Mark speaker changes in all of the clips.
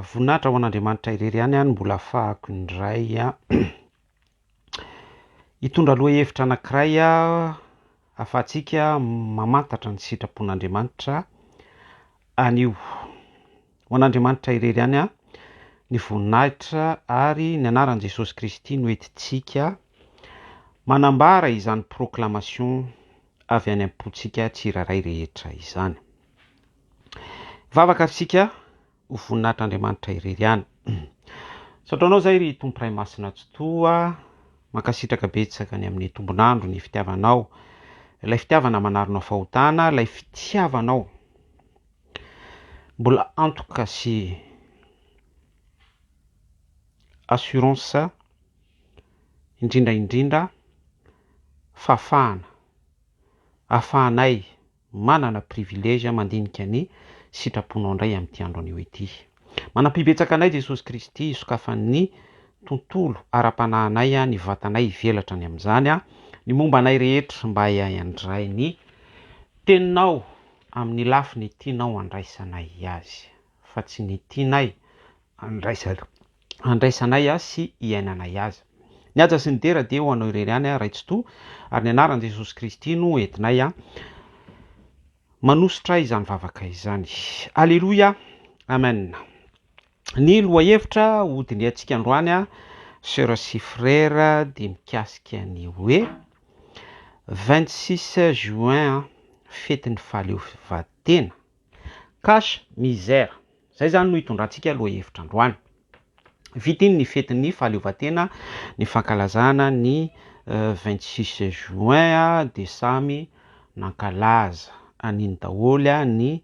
Speaker 1: Voninahitra ho an' Andriamanitra irery ihany aho no mbola hafahako indray hitondra lohahevitra anankiray aho ahafahantsika mamantatra ny sitrapon' Andriamanitra anio. Ho an' Andriamanitra irery ihany aho ny voninahitra ary ny anaran'i Jesosy Kristy no entintsika manambara izany proclamation. avy any am-pontsika tsirairay rehetra izany. Vavaka ary isika ho voninahitr'Andriamanitra irery ihany. Misaotra Anao izay ry Tompo Ray Masina Tsitoha, mankasitraka betsaka ny amin'ny tombon'andro, ny fitiavanao, ilay fitiavana manaronao fahotana, ilay fitiavanao mbola antoka sy assurance indrindra indrindra fa fahana ahafahanay manana privilège mandinika ny sitraponao indray amin'ity andro anio ity. Manampibetsaka anay Jesosy Kristy hisokafan'ny tontolo ara-panahinay ny vatanay hivelatra any amin'izany ny momba anay rehetra mba hiandray ny Teninao amin'ny lafiny tianao handraisanay azy fa tsy ny tianay andraisana andraisanay azy sy iainanay azy. Ny haja sy ny dera dia ho anao irery ihany aho Ray Tsitoha ary ny anaran'i Jesosy Kristy no entinay manositra izany vavaka izany. Aleloia! Amen! Ny lohahevitra ho dinihantsika androany Sœur sy Frère dia mikasika ny hoe 26 juin fetin'ny fahaleovatena. Cache misère, izay izany no hitondrantsika lohahevitra androany. Vita iny ny fetin'ny fahaleovantena, ny fankalazana ny vingt six juin dia samy nankalaza an'iny daholo ny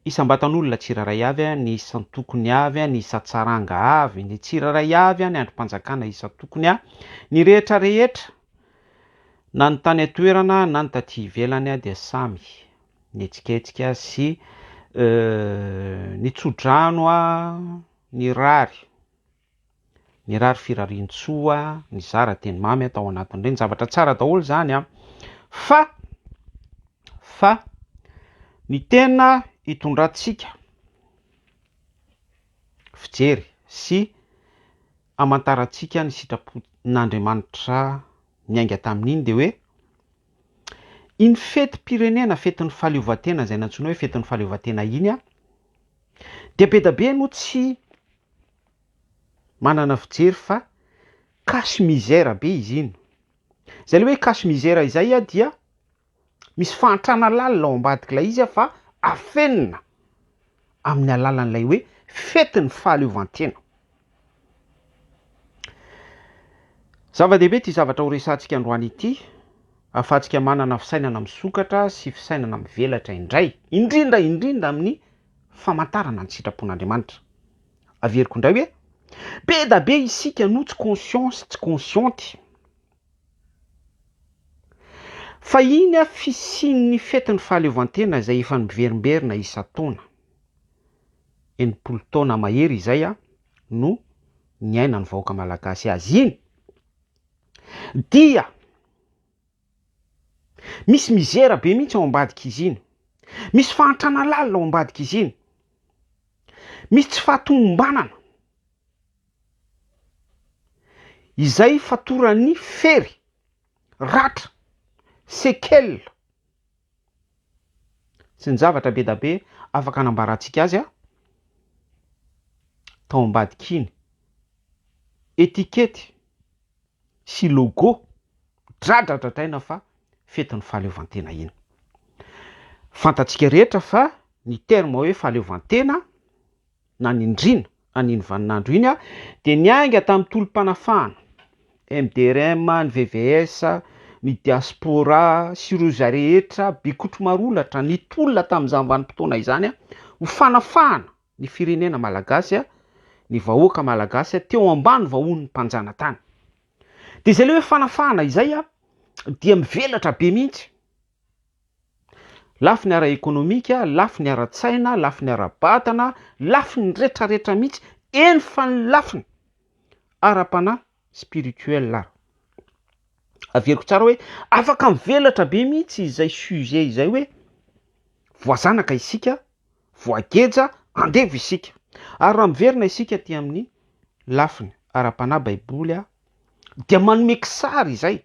Speaker 1: isam-batan'olona tsirairay avy, ny isan-tokony avy, ny isan-tsaranga avy, ny tsirairay avy, ny andrim-panjakana isan-tokony, ny rehetra rehetra na ny tany an-toerana na ny taty ivelany dia samy ny etsiketsika sy ny tsodrano ny rary ny rary firariantsoa nizara teny mamy aho tao anatin'ireny zavatra tsara daholo zany an fa fa ny tena hitondrantsika fijery sy amantarantsika ny sitrapon'Andriamanitra niainga tamin'iny dia hoe Iny fetim-pirenena, fetin'ny fahaleovantena izay nantsoina hoe fetin'ny fahaleovantena iny, dia be dia be no tsy manana fijery fa cache misère be izy iny. Izay ilay hoe cache misère izay dia misy fahantrana lalina ao ambadik'ilay izy fa afenina amin'ny alalan'ilay hoe fetin'ny fahaleovantena. Zava-dehibe ity zavatra horesahantsika androany ity, ahafahantsika manana fisainana misokatra sy fisainana mivelatra indray, indrindra indrindra amin'ny famantarana ny sitrapon'Andriamanitra. Averiko indray hoe, be da be isika no tsy conscient sy tsy consciente. Fahiny avy fisian'ny fetin'ny fahaleovantena izay efa miverimberina isan-taona. Enimpolo taona mahery izay no niainan'ny vahoaka malagasy azy iny dia misy mizera be mihitsy ao ambadik'izy iny, misy fahantrana lalina ao ambadik'izy iny, misy tsy fahatomombanana. izay fatoran'ny fery, ratra, séquelles, sy ny zavatra be da be afaka anambarantsika azy tao ambadik'iny, etikety sy logo dradradradraina fa fetin'ny fahaleovantena iny. Fantatsika rehetra fa ny terme hoe fahaleovantena nanindriana an'iny vaninandro iny aho dia niainga tamin'ny tolom-panafahana, MDRM, ny VVS, ny Diaspora sy ireo izay rehetra bikotry marolatra nitolona tamin'izany vanim-potoana izany ho fanafahana ny firenena malagasy, ny vahoaka malagasy teo ambany vahohon'ny mpanjanatany. Dia izay ilay hoe fanafahana izay dia mivelatra be mihitsy. Lafiny ara-ekonomika, lafiny ara-tsaina, lafiny ara-batana, lafiny retraretra mihitsy, eny fa ny lafiny ara-panahy, spirituel ary. Averiko tsara hoe afaka mivelatra be mihitsy izay sujet izay hoe voazanaka isika, voageja, andevo isika. Ary raha miverina isika aty amin'ny lafiny ara-panahy baiboly dia manome kisary izay.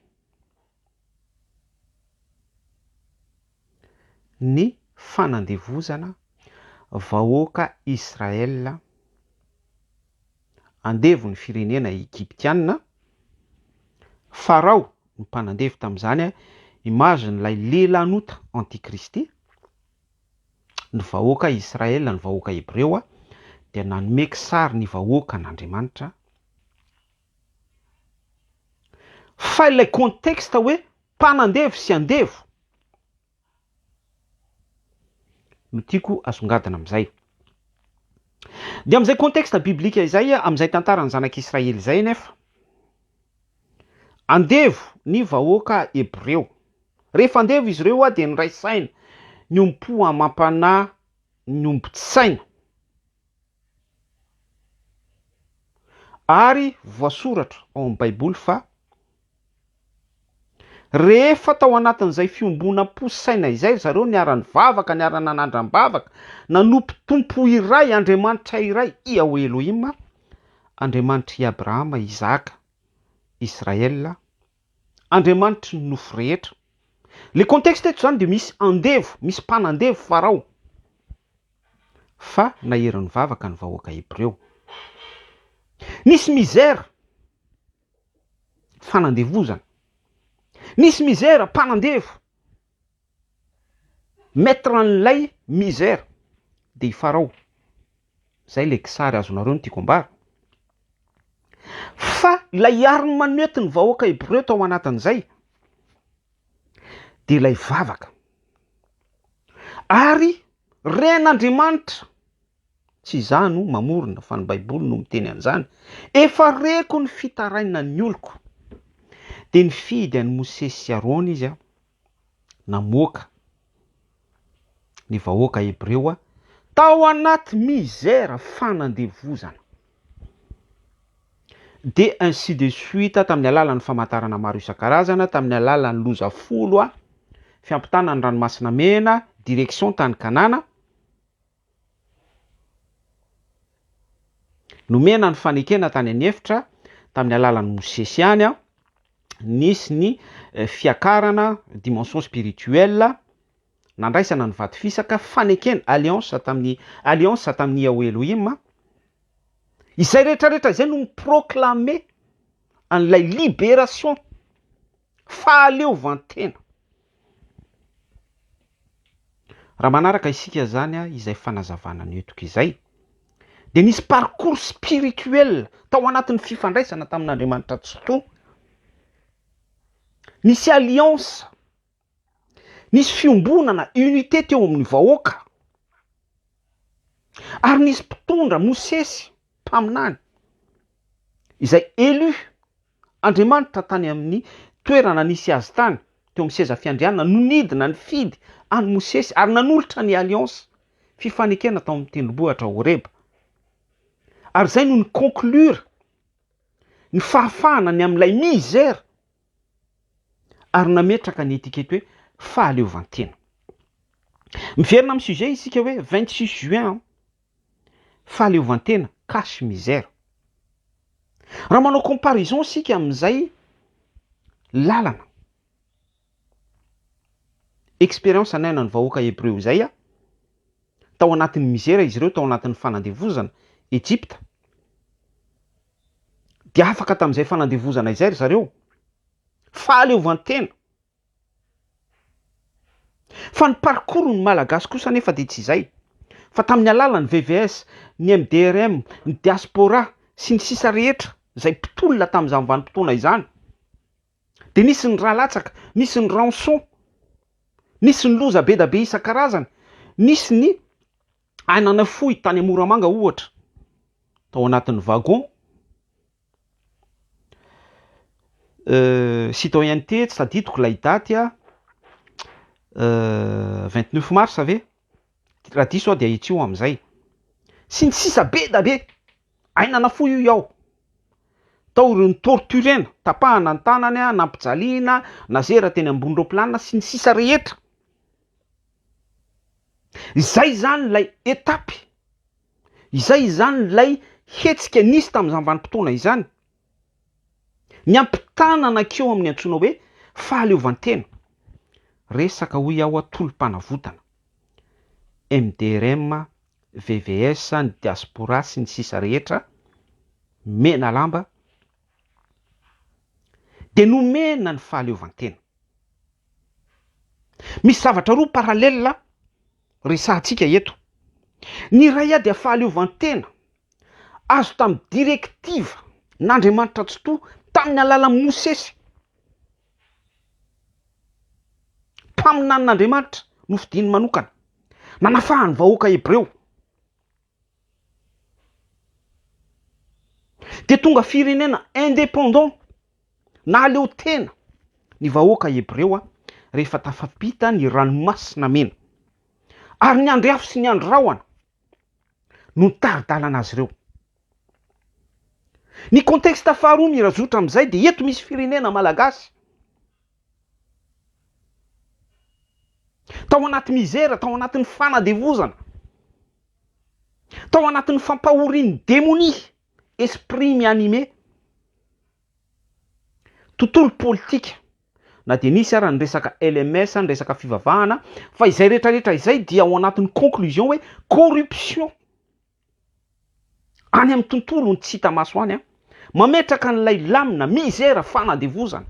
Speaker 1: ny fanandevozana vahoaka Israel andevo ny firenena Egyptiana, Farao no mpanandevo tamin'izany, image n'ilay lelan'ota anti-kristy, ny vahoaka Israel, ny vahoaka Hebreo dia nanome kisary ny vahoakan'Andriamanitra, Fa ilay contexte hoe mpanandevo sy andevo no tiako asongadina amin'izay. Dia amin'izay contexte biblika izay, amin'izay tantaran'ny zanak'Israely izay anefa, andevo ny vahoaka hebreo. Rehefa andevo izy ireo dia niray saina, niompo amam-panahy, niombon-tsaina. Ary voasoratra ao amin'ny Baiboly fa rehefa tao anatin'izay fiombonam-po sy saina izay ry zareo niara-nivavaka, niara-nanandram-bavaka, nanompo Tompo iray, Andriamanitra iray, Iahweh Elohim, Andriamanitr'i Abrahama, Isaka, Israël, Andriamanitry ny nofo rehetra. Le contexte eto izany dia misy andevo, misy mpanandevo Farao. fa nahery nivavaka ny vahoaka Hebreo. Nisy misère, fanandevozana. Nisy misère, mpanandevo. Maître an'ilay misère dia i Farao. Izay ilay kisary azonareo ny tiako ambara. Fa ilay arme nety ny vahoaka Hebreo tao anatin'izay, dia ilay vavaka. Ary ren'Andriamanitra, tsy izaho no mamorona fa ny Baiboly no miteny an'izany, efa reko ny fitarainan'ny oloko. Dia nifidy an'i Mosesy sy Arona izy, namoaka ny vahoaka hebreo tao anaty misère fanandevozana dia ainsi de suite tamin'ny alalan'ny famantarana maro isan-karazana tamin'ny alalan'ny loza folo fiampitana ny ranomasina mena direction tany Kanana Nomena ny fanekena tany an'efitra tamin'ny alalan'i Mosesy ihany, nisy ny fiakarana, dimension spirituelle, nandraisana ny vato fisaka, fanekena, alliance, tamin'i alliance tamin'i Yahweh Elohim, izay rehetrarehetra izay no mi-proclamer an'ilay liberation. Fahaleovantena! Raha manaraka isika izany, izay fanazavana nentiko izay, dia nisy parcours spirituel tao anatin'ny fifandraisana tamin'Andriamanitra Tsitoha, nisy alliance, nisy fiombonana, unité teo amin'ny vahoaka, ary nisy mpitondra, Mosesy, mpaminany, izay élu, Andriamanitra tany amin'ny toerana nisy Azy tany, teo amin'ny seza fiandrianana no nidina nifidy an'i Mosesy ary nanolotra ny alliance, fifanekena tao amin'ny tendrombohitra Horeba. Ary izay no ni-conclure ny fahafahana ny amin'ilay misère ary nametraka ny étiquette hoe fahaleovantena. Miverina amin'ny sujet isika hoe 26 juin an! Fahaleovantena cache misère. Raha manao comparaison isika amin'izay lalana, expérience anaina ny vahoaka Hebreo izay, tao anatin'ny misère izy ireo tao anatin'ny fanandevozana Egypta, dia afaka tamin'izay fanandevozana izay ry zareo, fahaleovantena. Fa ny parcours ny Malagasy kosa anefa dia tsy izay, fa tamin'ny alalan'ny VVS, ny MDRM, ny Diaspora sy ny sisa rehetra izay mpitolona tamin'izany vanim-potoana izany dia nisy ny rà latsaka, nisy ny rançon, nisy ny loza be da be isan-karazany, nisy ny aina nafoy tany Moramanga ohatra tao anatin'ny wagon, Citoyenneté, tsy tadidiko ilay daty an, vingt neuf mars ve? Raha diso aho dia ahitsio aho amin'izay. Sy ny sisa be dia be. Aina nafoy hoy aho. Tao ireo ni-torturer-na, tapahana ny tanany, nampijaliana, nazera teny ambony roaplanina sy ny sisa rehetra. Izay izany ilay étape. Izay izany ilay hetsika nisy tamin'izany vanim-potoana izany. Ny hampitana anakio amin'ny antsoina hoe fahaleovantena. Resaka hoy aho tolom-panavotana. MDRM, VVS, ny diaspora sy ny sisa rehetra, Menalamba, dia nomena ny fahaleovantena. Misy zavatra roa parallèle. Resahantsika eto ny iray ady a fahaleovantena azo tamin'ny direktiva n'Andriamanitra Tsitoha tamin'ny alalan'i Mosesy. Mpaminanin'Andriamanitra nofidiny manokana, nanafahan'ny vahoaka hebreo. Dia tonga firenena indépendant, nahaleo tena, ny vahoaka Hebreo rehefa tafapita ny Ranomasina Mena. Ary ny andry afo sy ny andry rahona no nitari-dalana azy ireo. Ny contexte faharoa mirazotra amin'izay dia eto misy firenena malagasy. Tao anaty mizera, tao anatin'ny fanadevozana, tao anatin'ny fampahorian'ny demonia, esprit mi-anime, tontolo politika, na dia nisy ara ny resaka LMS, ny resaka fivavahana, fa izay rehetra rehetra izay dia ao anatin'ny conclusion hoe corruption. Any amin'ny tontolon'ny tsy hita maso any, mametraka an'ilay lamina, mizera, fanadevozana.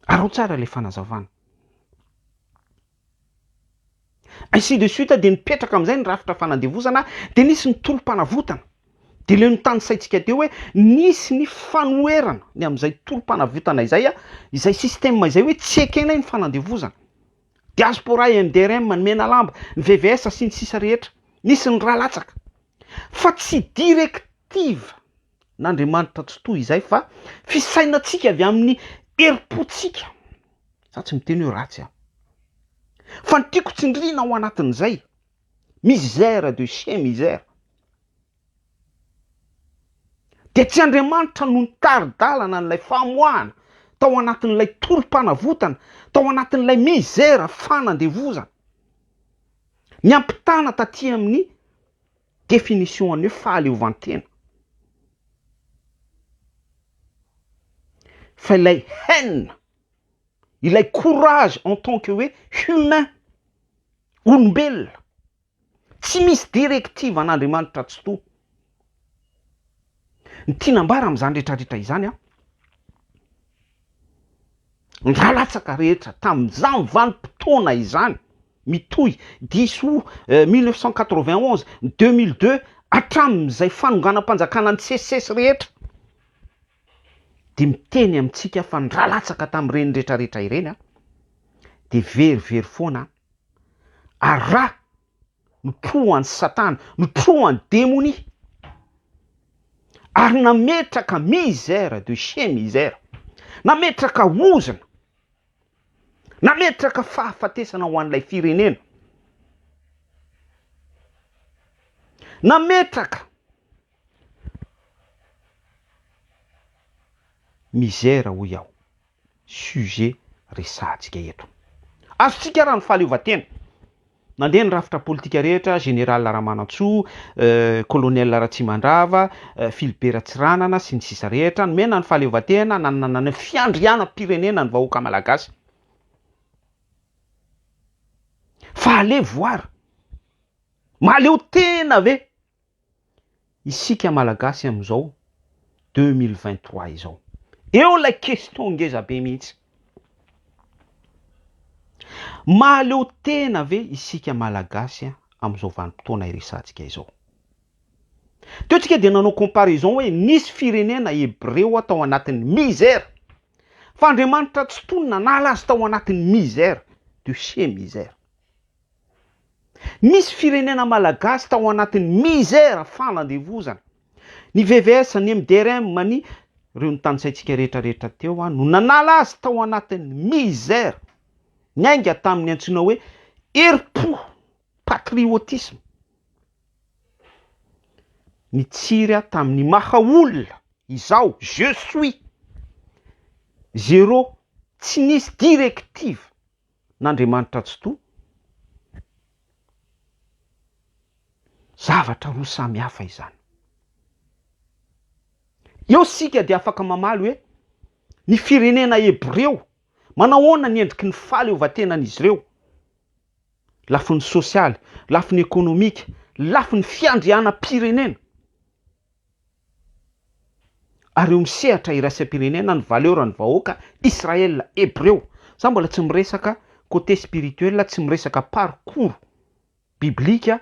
Speaker 1: Araho tsara ilay fanazavana. Ainsi de suite dia nipetraka amin'izay ny rafitra fanadevozana, dia nisy ny tolom-panavotana. Dia ilay notanisaintsika teo hoe nisy ny fanoherana ny amin'izay tolom-panavotana izay, izay système izay hoe tsy ekenay ny fanadevozana. Diaspora, MDRM, ny Menalamba, ny VVS sy ny sisa rehetra, nisy ny ra latsaka. Fa tsy directive n'Andriamanitra tsy toy izay fa fisainantsika avy amin'ny herim-pontsika. Za tsy miteny hoe ratsy an. Fa ny tiako tsindrina ao anatin'izay, misère de chez misère. Dia tsy Andriamanitra no nitari-dalana an'ilay famoahana tao anatin'ilay tolom-panavotana, tao anatin'ilay mizera fanandevozana. Miampitana taty amin'ny définition an'ny hoe fahaleovantena. Fa ilay haine, ilay courage en tant que hoe humain, olombelona, Tsy misy directive an'Andriamanitra Tsitoha. Ny tiana ambara amin'izany rehetra rehetra izany an, ny ra latsaka rehetra tamin'izany vanim-potoana izany mitohy dix aout mille neuf cent quatre-vingt onze, deux mille deux hatramin'izay fanonganam-panjakana ny sesisesy rehetra dia miteny amintsika fa ny ra latsaka tamin'ireny rehetra rehetra ireny an dia very very foana an. Ary ra notrohan'i Satana, notrohan'i demonia, ary nametraka misère de chez misère, nametraka ozona, nametraka fahafatesana ho an'ilay firenena, nametraka misère hoy aho. sujet resahantsika eto. Azontsika ara ny fahaleovantena. Nandeha ny rafitra politika rehetra, général Ramanantsoa, colonel Ratsimandrava, Philibert Tsiranana sy ny sisa rehetra, nomena ny fahaleovantena, nanana ny fiandrianam-pirenena ny vahoaka malagasy. Fa alevo ary. Mahaleo tena ve Isika malagasy amin'izao deux mille vingt trois izao. Eo ilay question ngeza be mihitsy. Mahaleo tena ve isika malagasy amin'izao vanim-potoana iresahantsika izao? Teo tsika dia nanao comparaison hoe nisy firenena hebreo tao anatin'ny misère. Fa Andriamanitra tsy tony nanala azy tao anatin'ny misère, de chez misère. Misy firenena malagasy tao anatin'ny misère fanandevozana. Ny VVS, ny MDRM, ny Ireo notanisaintsika rehetra rehetra teo an, no nanala azy tao anatin'ny misère. Niainga tamin'ny antsoina hoe herim-po, patriotisme. Nitsiry aho tamin'ny maha olona izaho, je suis. Zéro, tsy nisy directive n'Andriamanitra Tsitoha? Zavatra roa samy hafa izany. Eo isika dia afaka mamaly hoe, Ny firenena hebreo, manao ahoana ny endriky ny fahaleovantenan'izy ireo? Lafiny sosialy, lafiny ekonomika, lafiny fiandrianam-pirenena. ary eo amin'ny sehatra iraisam-pirenena ny valeur ny vahoaka Israel Hebreo. Za mbola tsy miresaka côté spirituel, tsy miresaka parcours biblique,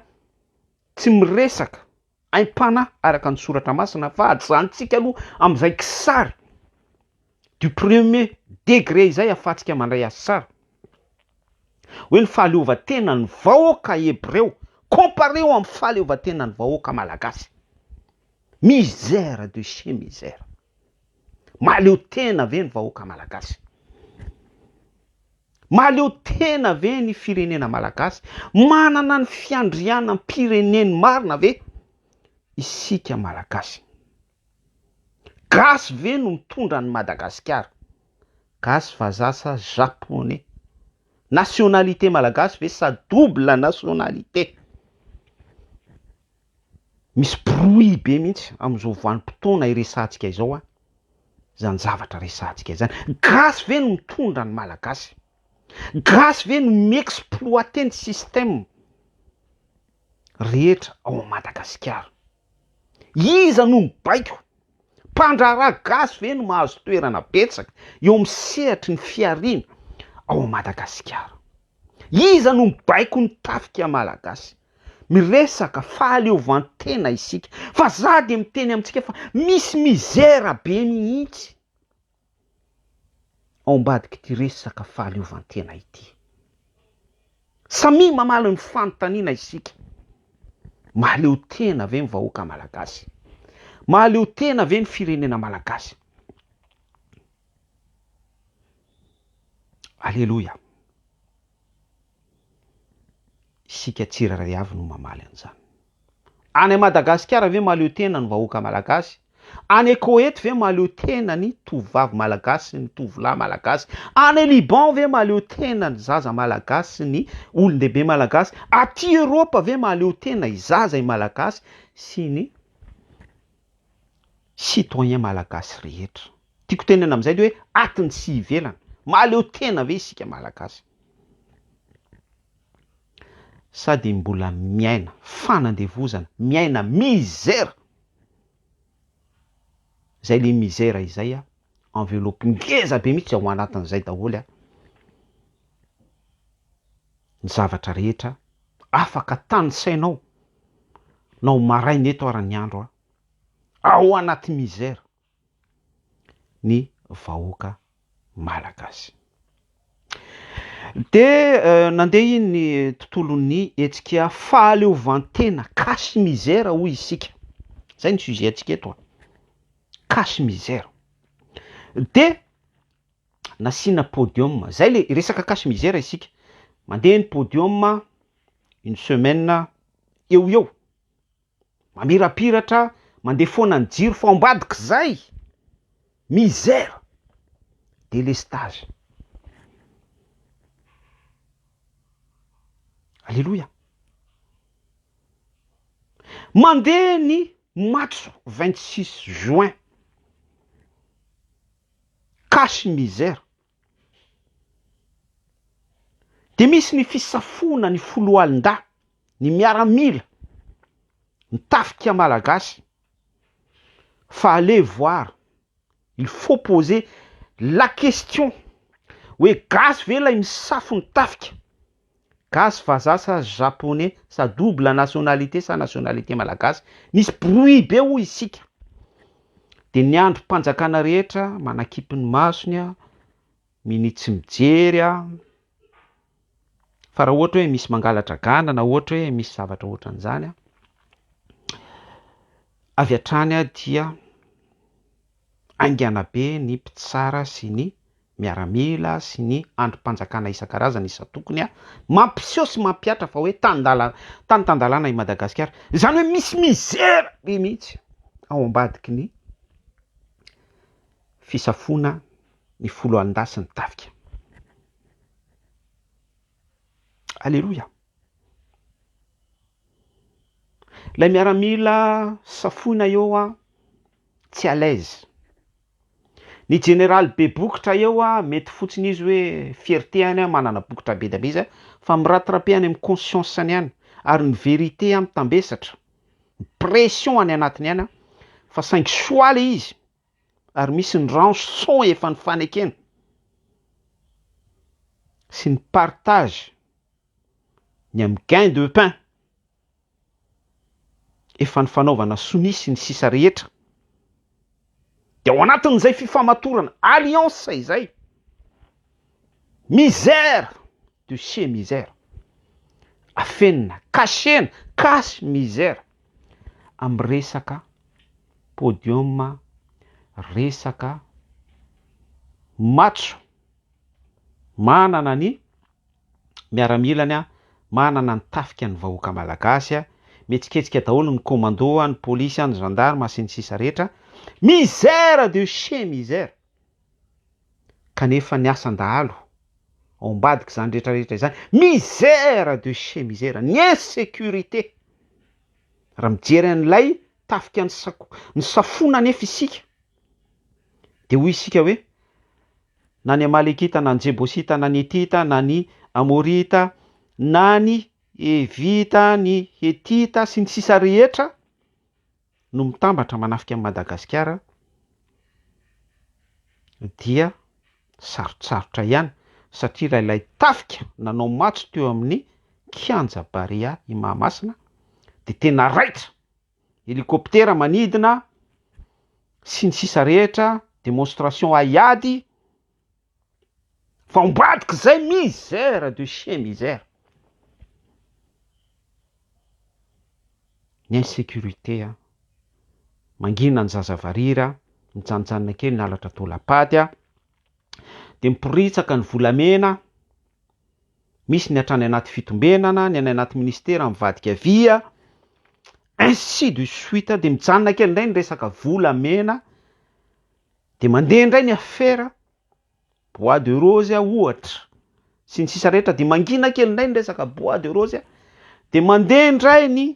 Speaker 1: tsy miresaka aim-panahy araka ny soratra masina fa ajanontsika aloha amin'izay kisary. du premier degre izay afatsika mandray azy tsara hoe ny fahaleovantenan'ny vahoaka hebreo compareo amin'ny fahaleovantenan'ny vahoaka malagasy. Misère de chez misère. Mahaleo tena ve ny vahoaka malagasy? Mahaleo tena ve ny firenena malagasy? Manana ny fiandrianam-pireneny marina ve isika malagasy? Gasy ve no mitondra an'i Madagasikara? Gasy vazaha sa Japonais? Nationalité Malagasy ve sa double nationalité? Misy brouille be mihitsy amin'izao vanim-potoana iresahantsika izao an, izany zavatra resahantsika izany. Gasy ve no mitondra ny Malagasy? Gasy ve no mi-exploiter ny système rehetra ao Madagasikara? Iza no mibaiko? Mpandraharaha gasy ve no mahazo toerana betsaka eo amin'ny sehatry ny fihariana ao Madagasikara? Iza no mibaiko ny tafika malagasy? Miresaka fahaleovantena isika fa za dia miteny amintsika fa misy mizera be mihitsy. ao ambadik'ity resaka fahaleovantena ity. Samia mamaly ny fanontaniana isika, mahaleo tena ve ny vahoaka malagasy? Mahaleo tena ve ny firenena malagasy? Aleloia! Isika tsirairay avy no mamaly an'izany. Any Madagasikara ve mahaleo tena ny vahoaka malagasy? Any Koety ve mahaleo tena ny tovovavy malagasy sy ny tovolahy malagasy? Any Liban ve mahaleo tena ny zaza malagasy sy ny olon-dehibe malagasy? Aty Eropa ve mahaleo tena i zaza i malagasy sy ny citoyen malagasy rehetra? Tiako tenenana amin'izay dia hoe atiny sy ivelany, mahaleo tena ve isika malagasy? Sady mbola miaina fanandevozana, miaina misère! Zay le misère izay a, enveloppe ngeza be mihitsy ao anatin'izay daholo a, ny zavatra rehetra afaka tanisainao na ho maraina eto ary ny andro a, ao anaty misère! ny vahoaka malagasy. Dia nandeha iny ny tontolon'ny hetsika fahaleovantena cache misère hoy isika, izay ny sujet antsika eto an, cache misère. Dia nasiana podium, izay le resaka cache misère isika, mandeha ny podium une semaine eo ho eo. mamirapiratra mandeha foana ny jiro fa ambadika zay misère délestage aleloia mandeha ny matso vingt six juin cache misère de misy ny fisafoana ny foloalindahy ny miaramila, ny tafika malagasy fa allez voir, il faut poser la question hoe gasy ve ilay misafo ny tafika? Gasy, vazaha sa japonais sa double nationalité sa nationalité malagasy? Misy brouille be hoy isika. Dia ny andrim-panjakana rehetra manakipy ny masony, minia tsy mijery. fa raha ohatra hoe misy mangala-dragana na ohatra hoe misy zavatra ohatran'izany an, avy hatrany aho dia haingana be ny mpitsara sy ny miaramila sy ny andrim-panjakana isan-karazany isan-tokony an, mampiseho sy mampihatra fa hoe tan-dalana, tany tan-dalàna i Madagasikara. Izany hoe misy mizera be mihitsy ao ambadiky ny fisafoana ny foloalindahy sy ny tafika. Aleloia. Ilay miaramila safoina eo a, tsy à l'aise. Ny jeneraly be bokotra eo a, mety fotsiny izy hoe fierté any a, manana bokotra be dia be izy a, fa mi-rattraper any amin'ny conscience-ny any, ary ny vérité a mitambesatra, pression any anatiny any a, fa saingy soa ilay izy. ary misy ny rançon efa nifanekena sy ny partage ny amin'ny gain de pain efa nifanaovana sonia sy ny sisa rehetra dia ao anatin'izay fifamatorana alliance izay misère de chez misère afenina, kasena, cache misère. amin'ny resaka podium, resaka matso, manana ny miaramilany, manana ny tafika ny vahoaka malagasy, mihetsiketsika daholo ny commando, ny police, ny gendarme sy ny sisa rehetra, misère de chez misère. Kanefa ny asan-dahalo, ao ambadik'izany rehetra rehetra izany, misère de chez misère, ny insécurité! Raha mijery an'ilay tafika nisafona anefa isika, dia hoy isika hoe, na ny Amalekita, na ny Jebosita, na ny Hetita, na ny Amorita, na ny Hevita, ny Hetita, sy ny sisa rehetra, no mitambatra manafika an'i Madagasikara dia sarotsarotra ihany satria raha ilay tafika nanao matso teo amin'ny kianja Barea i Mahamasina dia tena raitra, hélicoptère manidina sy ny sisa rehetra, démonstration haiady, Fa ambadika zay misère de chien misère. Ny insécurité a, mangina ny zaza varira a, mijanojanona kely ny halatra taolam-pady a, de miporitsaka ny volamena a, misy ny hatrany anaty fitombenana, ny any anaty ministera mivadika vy a, ainsi de suite, de mijanona kely ndray ny resaka volamena, Dia mandeha indray ny afera, bois de rose ohatra, sy ny sisa rehetra, dia mangina kely indray ny resaka bois de rose, dia mandeha indray ny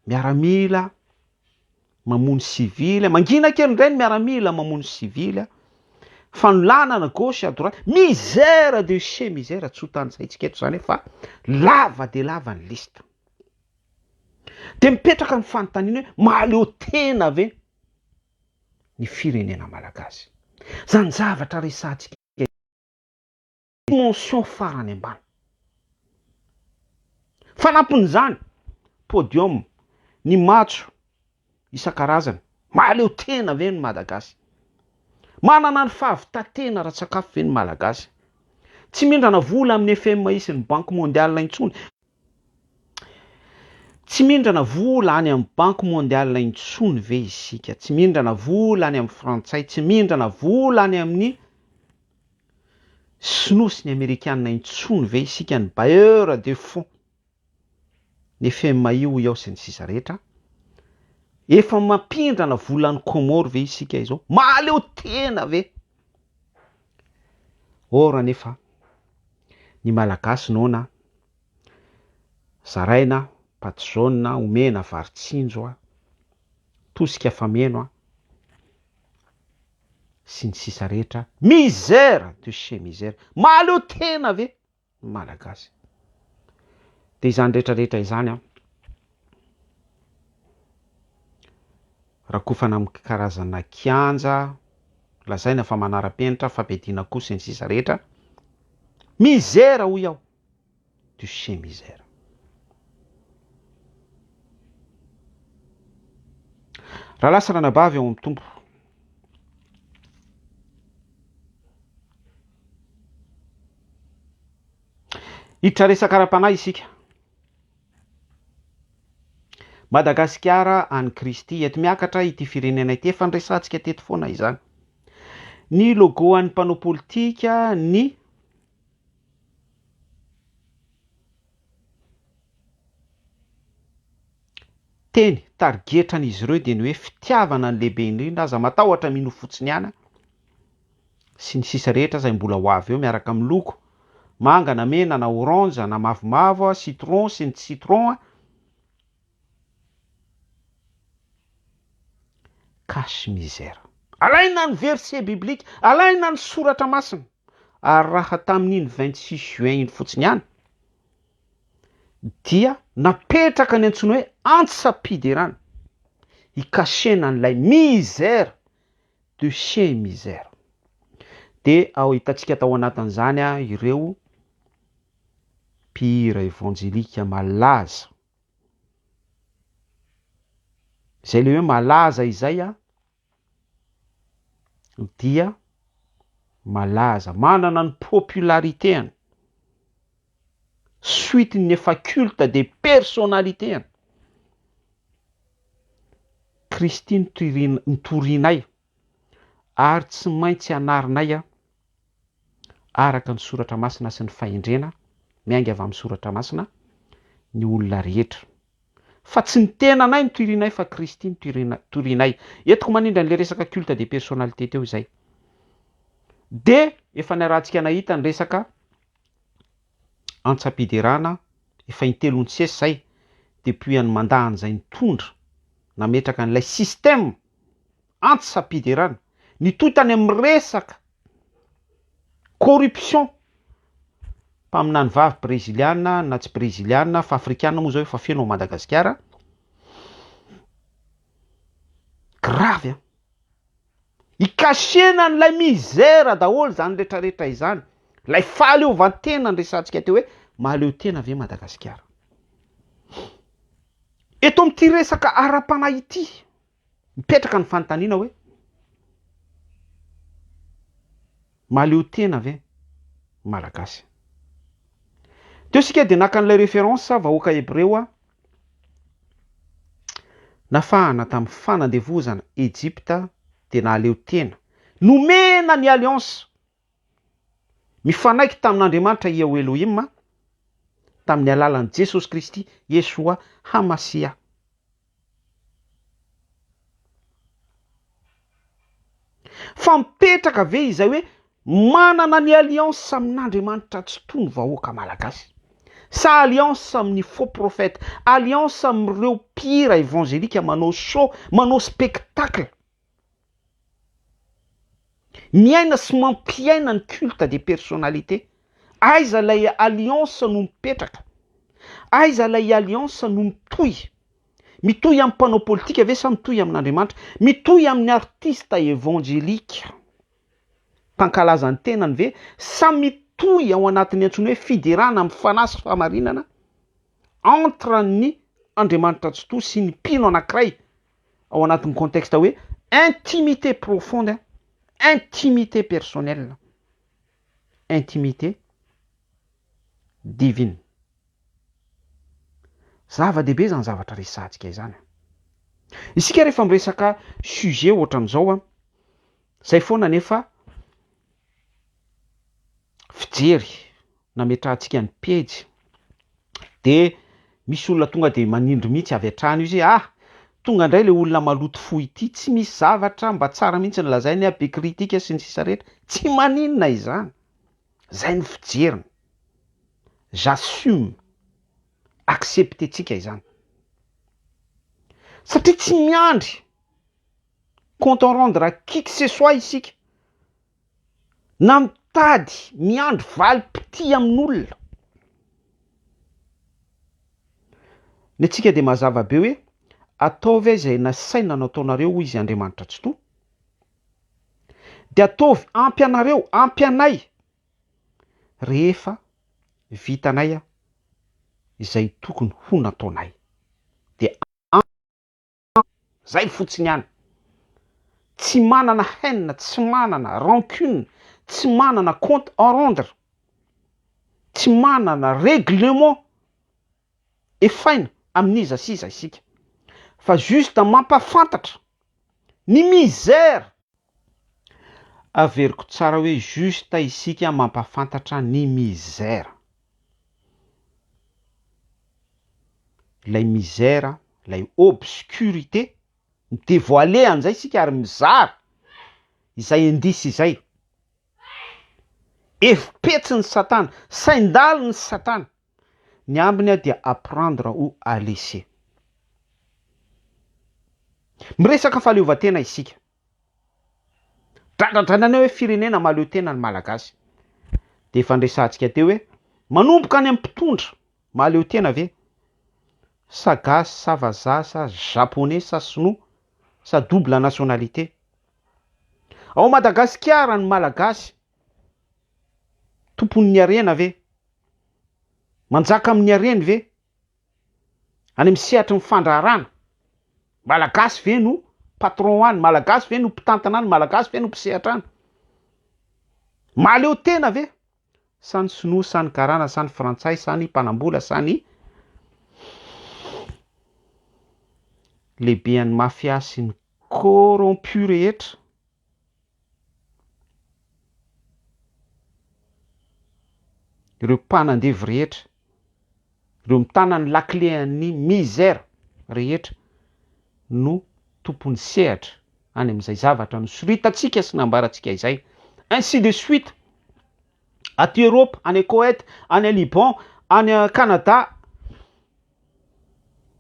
Speaker 1: miaramila mamono sivily, mangina kely indray ny miaramila mamono sivily, fanolanana gauche à droite, misère de chez misère, tsy ho tanisaintsika eto izany fa lava dia lava ny liste. Dia mipetraka ny fanontaniana hoe mahaleo tena ve? ny firenena malagasy. Zany zavatra resahantsika eto dimension farany ambany. Fanampin'izany, podium, ny matso isan-karazany, mahaleo tena ve ny Malagasy? Manana ny fahavitan-tena ara-tsakafo ve ny Malagasy? Tsy mindrana vola amin'ny FMI sy ny Banky Mondiale intsony Tsy mindrana vola any amin'ny banky mondiale intsony ve isika? Tsy mindrana vola any amin'ny frantsay, tsy mindrana vola any amin'ny sinoa sy ny amerikana intsony ve isika, ny bailleurs de fonds, ny FMI hoy aho sy ny sisa rehetra? Efa mampindrana vola any Comores ve isika izao? Mahaleo tena ve? Or anefa Ny Malagasy noana a. Zaraina a, patte jaune a, omena vary tsinjo a, tosika fameno a, sy ny sisa rehetra. Misère de chez misère! Mahaleo tena ve ny Malagasy? Dia izany rehetra rehetra izany an! Rakofana amin'ny karazana kianja lazaina fa manara-penitra, fampediana koa sy ny sisa rehetra. Mizera hoy aho. Tu chez mizera. Rahalahy sy ranabavy ao amin'ny Tompo. Hiditra resaka ara-panahy isika. Madagasikara an'i Kristy. Eto miakatra ity firenena ity. Efa niresahantsika teto foana izany. Ny logo an'ny mpanao politika, ny teny tarigetran'izy ireo dia ny hoe fitiavana ny lehibe indrindra, aza matahotra mino fotsiny ihany. sy ny sisa rehetra izay mbola ho avy eo miaraka amin'ny loko, manga na mena na orange na mavomavo, citron sy ny tsy citron a. Cache misère. Alaina ny verset biblique, alaina ny soratra masina, ary raha tamin'iny vingt six juin iny fotsiny ihany dia napetraka ny antsoina hoe antsa-piderana, hikasena an'ilay misère de chez misère. Dia ao hitantsika tao anatin'izany ireo mpihira evanjelika malaza. Izay ilay hoe malaza izay dia malaza, manana ny popularité-ny. suite ny efa culte de personnalité an Kristy notorinay ary tsy maintsy anarinay an araka ny soratra masina sy ny fahendrena miainga avy amin'ny soratra masina ny olona rehetra fa tsy ny tenanay no torinay fa Kristy no torinay eto ko manindra an'ilay resaka culte de personnalité teo izay dia efa niarahantsika nahita ny resaka antsam-piderana efa intelo ny sesy zay depuis an'i Manda an'izay nitondra nametraka an'ilay système antsam-piderana nitohy tany amin'ny resaka corruption mpaminany vavy breziliana na tsy breziliana fa afrikana moa zao efa feno ao Madagasikara, grave an! Ikasihina an'ilay misère daholo izany retraretra izany. Ilay fahaleovantena niresahantsika teo hoe mahaleo tena ve Madagasikara. Eto amin'ity resaka ara-panahy ity, mipetraka ny fanontaniana hoe mahaleo tena ve Malagasy. Teo isika dia naka an'ilay référence vahoaka Hebreo Nafahana tamin'ny fanandevozana Egypta dia nahaleo tena. Nomena ny alliance mifanaiky tamin'Andriamanitra Iaho Elohima tamin'ny alalan'i Jesosy Kristy, Yeshua Hamasiah. Fa mipetraka ve izay hoe manana ny alliance amin'Andriamanitra tsy toa ny vahoaka malagasy? Sa alliance amin'ny faux prophète, alliance amin'ireo mpihira evangelika manao show, manao spectacle, miaina sy mampiaina ny culte des personnalités? Aiza ilay alliance no mipetraka? Aiza ilay alliance no mitohy? Mitohy amin'ny mpanao politika ve sa mitohy amin'Andriamanitra? Mitohy amin'ny artista evanjelika mpankalaza ny tenany ve sa mitohy ao anatin'ny antsoina hoe fiderana amin'ny fanahy sy fahamarinana entre ny Andriamanitra Tsitoha sy ny mpino anankiray ao anatin'ny contexte hoe intimité profonde, intimité personnelle, intimité divine. Zava-dehibe izany zavatra resahantsika izany. Isika rehefa miresaka sujet ohatra an'izao an, izay foana anefa fijery nametrahantsika ny pejy dia misy olona tonga dia manindry mihitsy avy hatrany io izay ah! tonga indray ilay olona maloto fo ity, tsy misy zavatra mba tsara mihitsy ny lazainy ah! be critique sy ny sisa rehetra, tsy maninona izany, izay ny fijeriny. j'assume, accepter-tsika izany. Satria tsy miandry compte en rendre à qui que ce soit isika, na mitady miandry valim-pitia amin'olona. Ny antsika dia mazava be hoe, ataovy ahy izay nasaina nataonareo hoy izy Andriamanitra Tsitoha, dia ataovy ampy anareo, ampy anay rehefa vitanay izay tokony ho nataonay dia ampy izay fotsiny ihany, tsy manana haine, tsy manana rancune, tsy manana compte à rendre, tsy manana règlement. efaina amin'iza sy iza isika fa juste mampafantatra ny misère averiko tsara hoe juste isika mampafantatra ny misère ilay misère ilay obscurité mi devoiler an'izay isika ary mizara izay indice izay efi-petsin'i satana sain-dalin'i satana Ny ambiny dia apprendre ou à laisser. Miresaka fahaleovantena isika. Dradradraina ny hoe firenena mahaleo tena ny Malagasy. Dia efa niresahantsika teo hoe manomboka any amin'ny mpitondra mahaleo tena ve? Sa gasy sa vazaha sa japonais sa sinoa sa double nationalité? Ao Madagasikara ny Malagasy Tompon'ny harena ve? Manjaka amin'ny hareny ve? Any amin'ny sehatry ny fandraharana? Malagasy ve no patron any? Malagasy ve no mpitantana any? Malagasy ve no mpisehatra any? Mahaleo tena ve? Sa ny sinoa, sa ny karana, sa ny frantsay, sa ny mpanambola, sa ny lehibean'ny mafia sy ny corrompu rehetra? Ireo mpanandevo rehetra, ireo mitana ny lakile an'ny misère rehetra no tompon'ny sehatra any amin'izay zavatra nosoritantsika sy nambarantsika izay, ainsi de suite, aty Europe, any Koet, any Liban, any Canada,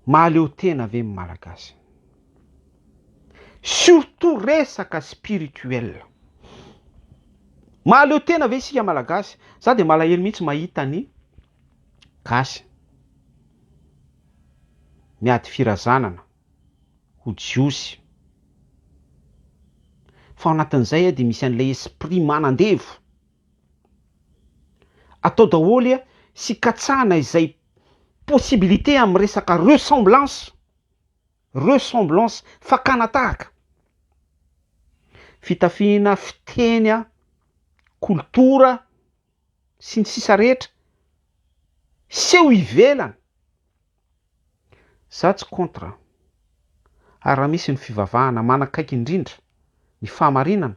Speaker 1: Mahaleo tena ve ny Malagasy? Surtout resaka spirituel. Mahaleo tena ve isika Malagasy? Za dia malahelo mihitsy mahita ny Gasy miady firazanana ho Jiosy. Fa ao anatin'izay dia misy an'ilay esprit manandevo. Atao daholo a sy katsahana izay possibilité amin'ny resaka ressemblance, ressemblance, fakana tahaka, fitafiana, fiteny a, kolotora sy ny sisa rehetra, seho ivelany, za tsy contre a, ary raha misy ny fivavahana manakaiky indrindra ny fahamarinana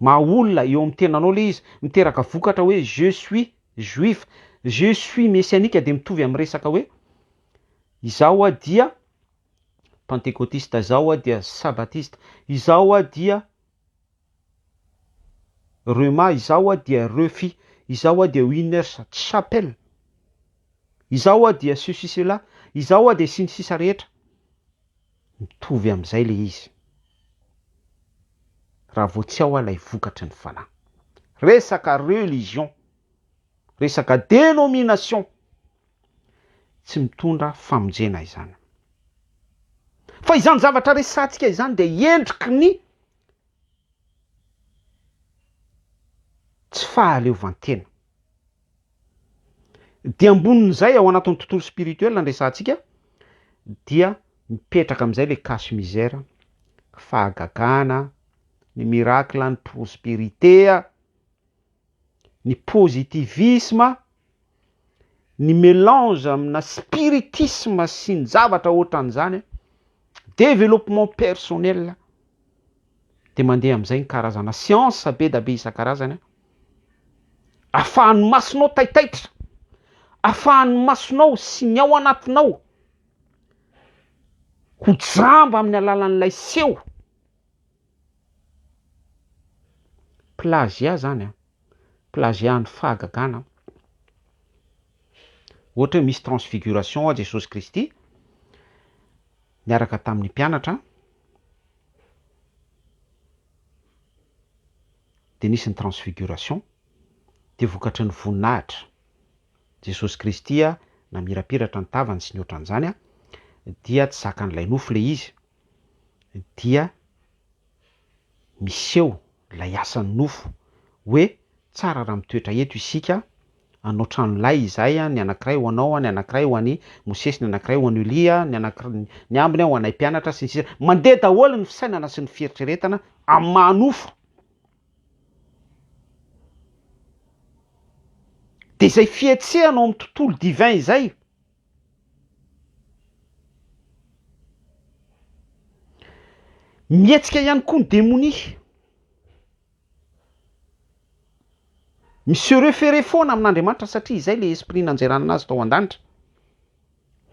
Speaker 1: Maha olona eo amin'ny tenanao ilay izy. Miteraka vokatra hoe je suis juif. Je suis messianique dia mitovy amin'ny resaka hoe izaho aho dia pantekotista, izaho aho dia sabatista, izaho aho dia rhema, izaho aho dia refi, izaho aho dia winners chapel, izaho aho dia ceci cela, izaho aho dia sy ny sisa rehetra. Mitovy amin'izay ilay izy raha vao tsy ao aho ilay vokatry ny fanahy. Resaka religion, resaka denomination tsy mitondra famonjena izany. Fa izany zavatra resahantsika izany dia endriky ny tsy fahaleovantena. Dia ambonin'izay, ao anatin'ny tontolo spirituel no resahantsika, dia mipetraka amin'izay ilay cache misère, fahagagana, ny miracle, ny prospérité, ny positivisme, ny mélange amina spiritisme sy ny zavatra ohatran'izany, développement personnel, dia mandeha amin'izay ny karazana science be dia be isan-karazany. Afahan'ny masonao taitaitra, afahan'ny masonao sy ny ao anatinao ho jamba amin'ny alalan'ilay seho. Plagiat zany an, plagiat ny fahagagana an. Ohatra hoe misy transfiguration ho'a Jesosy Kristy niaraka tamin'ny mpianatra an. dia nisy ny transfiguration, dia vokatry ny voninahitra, Jesosy Kristy namirapiratra ny tavany sy ny ohatran'izany, dia tsy zakan'ilay nofo ilay izy, dia miseho ilay asan'ny nofo hoe tsara raha mitoetra eto isika anao tranolay izay, ny anankiray ho anao, ny anankiray ho an'i Mosesy, ny anankiray ho an'i Elia, ny anankiray, ny ambiny ho anay mpianatra, sy ny sisa Mandeha daholo ny fisainana sy ny fieritreretana amin'ny maha nofo. Dia izay fihetsehana ao amin'ny tontolo divin izay, mihetsika ihany koa ny demonia. Mi se referer foana amin'Andriamanitra satria izay ilay Esprit nanjerana azy tao an-danitra.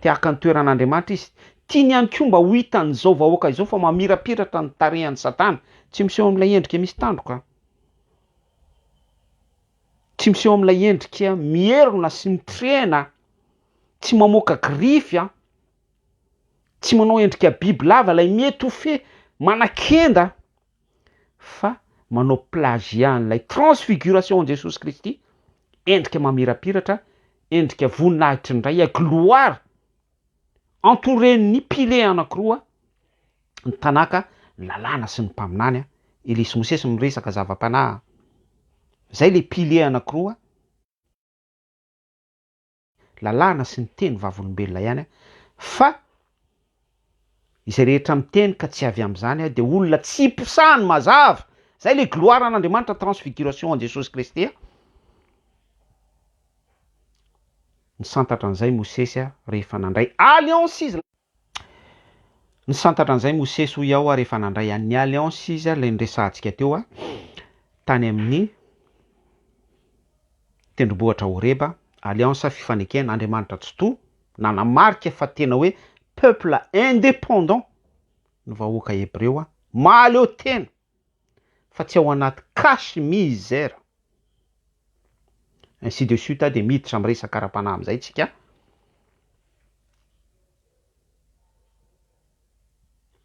Speaker 1: Te haka ny toeran'Andriamanitra izy. Tiany ihany koa mba ho hitan'izao vahoaka izao fa mamirapiratra ny tarehan'i Satana. Tsy miseho amin'ilay endrika misy tandroka. Tsy miseho amin'ilay endrika mierona sy mitrena. Tsy mamoaka grify an. Tsy manao endrika bibilava ilay mi-etouffer, manakenda. fa manao plagiat an'ilay transfiguration an'i Jesosy Kristy, endrika mamirapiratra, endrika voninahitry ny Ray, à gloire, entouré-n'ny piliers anankiroa, ny Tanakh, ny Lalàna sy ny Mpaminany an, Elia sy Mosesy miresaka zava-panahy an, zay le piliers anankiroa, lalàna sy ny teny vavolombelona ihany aho fa izay rehetra miteny ka tsy avy amin'izany aho dia olona tsy iposahany mazava izay ilay gloire an'Andriamanitra transfiguration an'i Jesosy Kristy a! Nisantatra an'izay Mosesy rehefa nandray alliance izy. Nisantatra an'izay i Mosesy, hoy aho, ary efa nandray an'ny Alliance izy, ary ilay niresahantsika teo, tany amin'ny tendrombohitra Horeba, Alliance, fifanekena, Andriamanitra Tsitoha, nanamarika fa tena hoe peuple indépendant ny vahoaka Hebreo, mahaleo tena! fa tsy ao anaty cache miser ainsi de suite dia miditra amin'ny resaka ara-panahy amin'izay tsika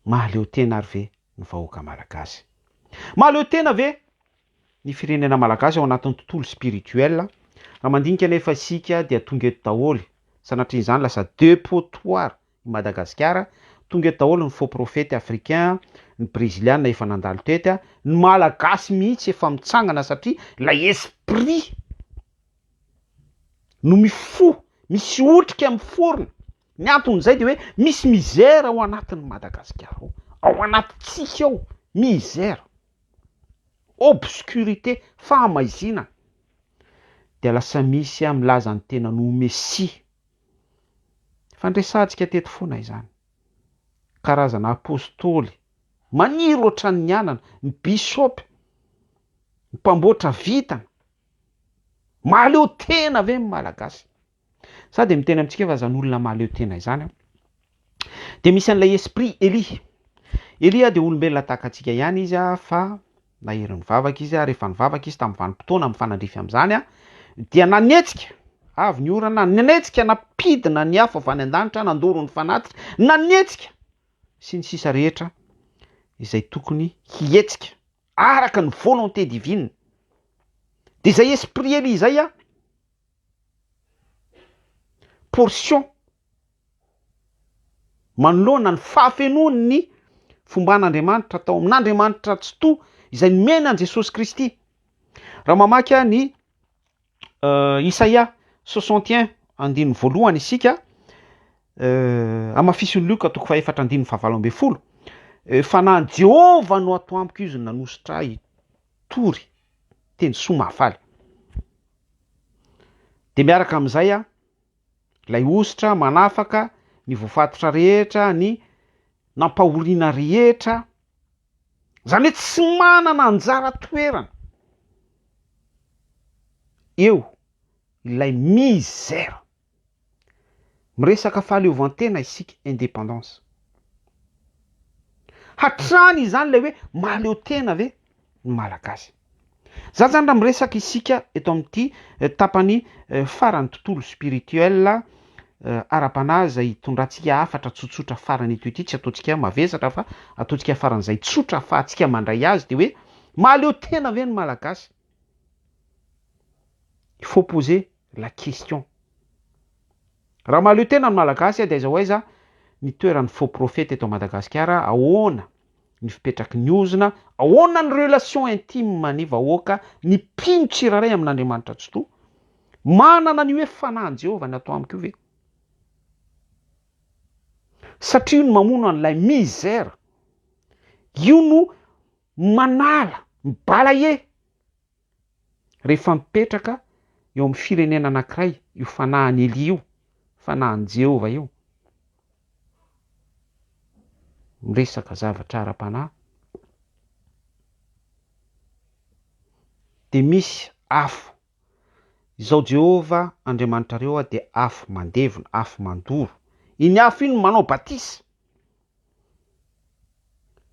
Speaker 1: mahaleo tena ary ve ny vahoaka malagasy? mahaleo tena ve ny firenena malagasy ao anatin'ny tontolo spirituel raha mandinika anefa isika dia tonga eto daholo sanatria izany lasa depotoir I Madagasikara, tonga eto daholo ny faux prophète africain, ny breziliana efa nandalo tety, ny malagasy mihitsy efa mitsangana satria ilay esprit no mifoha, misy otrika miforona, ny anton'izay dia hoe misy misère ao anatin'i Madagasikara ao, ao anatintsika ao, misère, obscurité, fahamaizinana, dia lasa misy milaza ny tenany ho Messie. Efa niresahantsika teto foana izany. Karazana apostoly maniry ohatran' ny anana, ny bisôpy, ny mpamboatra vintana. Mahaleo tena ve ny Malagasy? Za dia miteny amintsika hoe aza ny olona mahaleo tena izany an. Dia misy an'ilay esprit Elia. Elia dia olombelona tahaka antsika ihany izy fa nahery nivavaka izy ary rehefa nivavaka izy tamin'ny vanim-potoana mifanandrify amin'izany dia nanetsika avy ny orana, nanetsika nampidina ny afo avy any an-danitra, nandoro ny fanatitra, nanetsika sy ny sisa rehetra izay tokony hihetsika araka ny volonté divine. Dia izay esprit Elia izay portion manoloana ny fahafenoan'ny fomban'Andriamanitra tao amin'Andriamanitra Tsitoha izay nomena an'i Jesosy Kristy. Raha mamaky ahy ny uh, Isaia 61 andininy voalohany isika, uh, amafisin'i Lioka toko fahefatra andininy fahavalo ambin'ny folo, uh, fanahy Jehovah no ato amiko izy nanosotra ahy, tory, teny soa mahafaly. Dia miaraka amin'izay an, ilay hosotra manafaka ny voafatotra rehetra, ny nampahoriana rehetra, izany hoe tsy manana anjara toerana eo ilay misère. Miresaka fahaleovantena isika, indépendance. Hatrany izany ilay hoe mahaleo tena ve ny Malagasy? Za zany raha miresaka isika eto amin'ity tapany faran'ny tontolo spirituel ara-panahy izay hitondrantsika hafatra tsotsotra farany eto ity, tsy ataontsika mavesatra fa ataontsika faran'izay tsotra afahantsika mandray azy dia hoe mahaleo tena ve ny Malagasy? Il faut poser la question. Raha mahaleo tena ny Malagasy dia aiza ho aiza ny toeran'ny faux prophète eto Madagasikara, ahoana ny fipetraky ny ozona, ahoana ny relation intime ny vahoaka, ny mpino tsirairay amin'Andriamanitra Tsitoha? Manana ny hoe fanahin'i Jehovah ny ato amiko ve? Satria io no mamono an'ilay misère, io no manala ny balaie. Rehefa mipetraka eo amin'ny firenena anankiray io fanahin'i Elia io, fanahin'i Jehovah io, miresaka zavatra ara-panahy, dia misy afo. Izao Jehovah Andriamanitrareo dia afo mandevona, afo mandoro. Iny afo iny no manao batisa.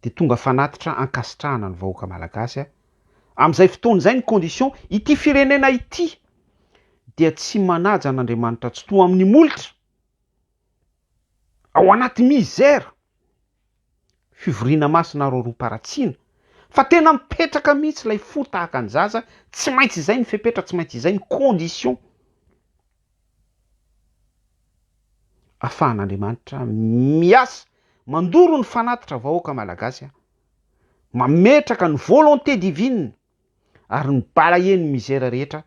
Speaker 1: dia tonga fanatitra ankasitrahana ny vahoaka malagasy a! Amin'izay fotoana izay ny condition, ity firenena ity dia tsy manaja an'Andriamanitra tsitoha amin'ny molotra, ao anaty misère, fivoriana masina roaroam-paratsiana, fa tena mipetraka mihitsy ilay fo tahaka ny zaza, tsy maintsy izay ny fepetra, tsy maintsy izay ny condition. afahan'Andriamanitra miasa mandoro ny fanatitra vahoaka malagasy a! mametraka ny volonté divine ary ny balayer ny misère rehetra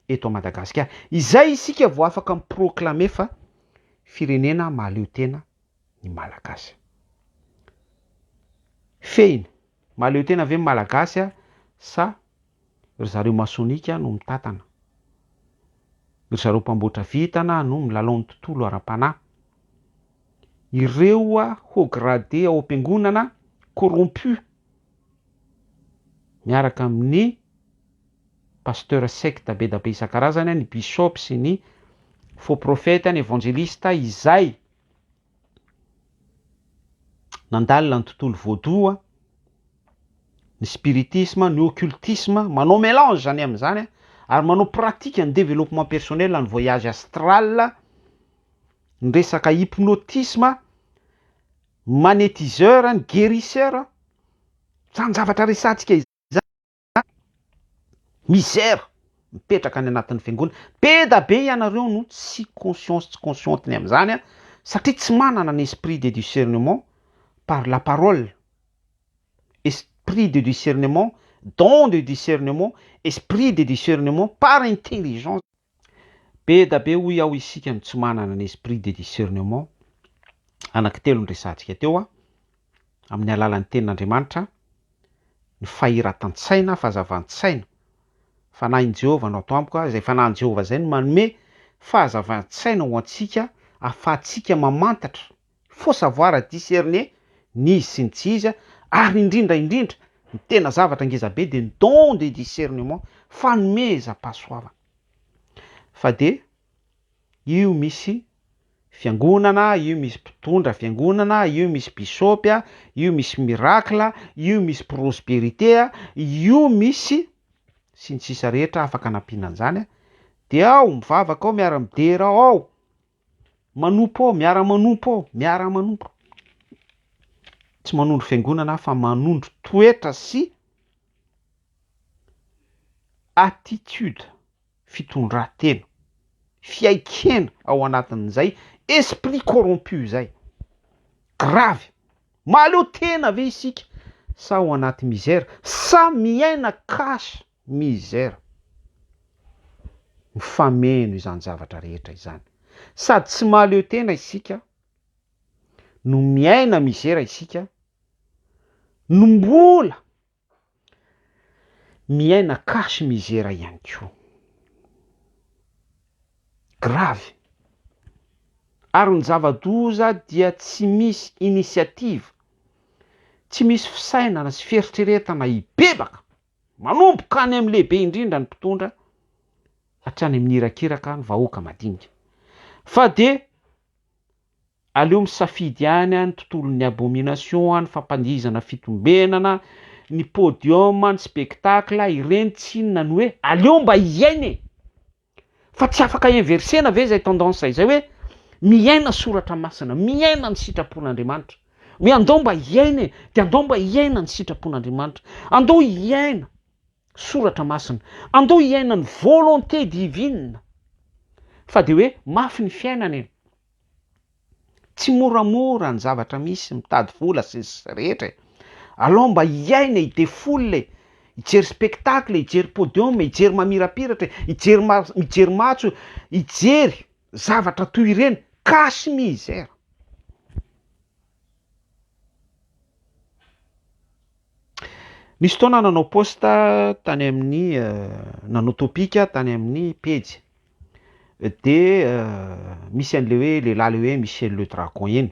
Speaker 1: eto Madagasikara, izay isika vao afaka mi proclamer fa firenena mahaleo tena ny malagasy. Fehiny, mahaleo tena ve ny malagasy sa Ry zareo masonika no mitantana. Ry zareo mpamboatra vintana no milalao ny tontolo ara-panahy. Ireo haut gradé ao am-piangonana corrompu miaraka amin'ny pasteurs sectes be da be isan-karazany, ny bishop sy ny faux prophètes, ny evanjelistes izay. Nandalina ny tontolo vaudou, ny spiritisme, ny occultisme, manao melange izany amin'izany ary manao pratique ny développement personnel, ny voyage astral, ny resaka hypnotisme, ny magnétiseur, ny guérisseur, izany zavatra resahantsika izany. An! Misère! Mipetraka any anatin'ny fiangonana. Be da be ianareo no tsy conscience tsy consciente ny amin'izany an! Satria tsy manana ny esprit de discernement par la parole, esprit de discernement, don de discernement, esprit de discernement par intelligence. Be da be hoy aho isika no tsy manana ny esprit de discernement anaky telo niresahantsika teo a, amin'ny alalan'ny tenin'Andriamanitra, ny fahiratan-tsaina, fahazavan-tsaina. Fanahin'i Jehovah no ato amiko a, izay fanahin'i Jehovah izay no manome fahazavan-tsaina ho antsika ahafahantsika mamantatra Faut savoir à discerner ny izy sy ny tsy izy ary indrindra indrindra ny tena zavatra ngeza be dia ny don de discernement, fanomezam-pahasoavana. Fa dia io misy fiangonana, io misy mpitondra fiangonana, io misy bisopy, io misy miracle, io misy prosperité, io misy sy ny sisa rehetra afaka anampiana an'izany dia ao mivavaka ao miara-midera ao, Manompo ao, miara-manompo ao, miara-manompo. Tsy manondro fiangonana aho fa manondro toetra sy attitude, fitondran-tena, fiaikena ao anatin'izay esprit corrompu izay. Gravy. Mahaleo tena ve isika sa ao anaty misère sa miaina cache Misère. Mifameno izany zavatra rehetra izany. Sady tsy mahaleo tena isika no miaina misera isika no mbola miaina cache misera ihany koa. Grave. Ary ny zava-doza dia tsy misy initiative, tsy misy fisainana sy fieritreretana hibebaka. Manomboka any amin'ny lehibe indrindra ny mpitondra hatrany amin'ny irakiraka ny vahoaka madinika. Fa dia aleo misafidy ihany ny tontolon'ny abomination, ny fampandihizana fitombenana, ny podium, ny spectacle, ireny tsinona ny hoe aleo mba hiaina e! Fa tsy afaka inverser-na ve izay tendance izay hoe miaina soratra masina, miaina ny sitrapon'Andriamanitra. Hoe andao mba hiaina e, dia andao mba hiaina ny sitrapon'Andriamanitra. Andao hiaina soratra masina, andao hiaina ny volonté divine. Fa dia hoe mafy ny fiainana e. Tsy moramora ny zavatra misy, mitady vola sy ny sisa rehetra e! Alao mba hiaina e, hide foule e, hijery spectacle e, hijery podium e, hijery mamirapiratra e, hijery ma- mijery matso e, hijery zavatra toy ireny, cache misère. Nisy fotoana nanao post tany amin'ny nanao topic tany amin'ny pejy de misy an'le hoe lehilahy le hoe Michel le Dragon iny,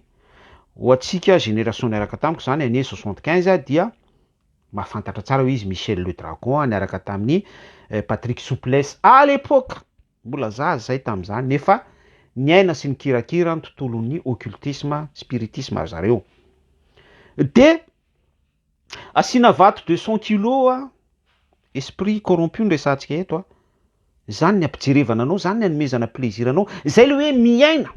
Speaker 1: ho antsika génération niaraka tamiko zany année soixante quinze dia mahafantatra tsara hoe izy Michel le Dragon niaraka tamin'i Patrick Souplesse à l'époque, mbola zaza zahay tam'zany nefa niaina sy nikirakira ny tontolon'ny occultisme, spiritisme zareo, de. Asiana vato deux cent kilos a, esprit corrompu no resahantsika eto a, zany ny ampijerevana anao, zany ny anomezana plaisir anao, zay le hoe miaina,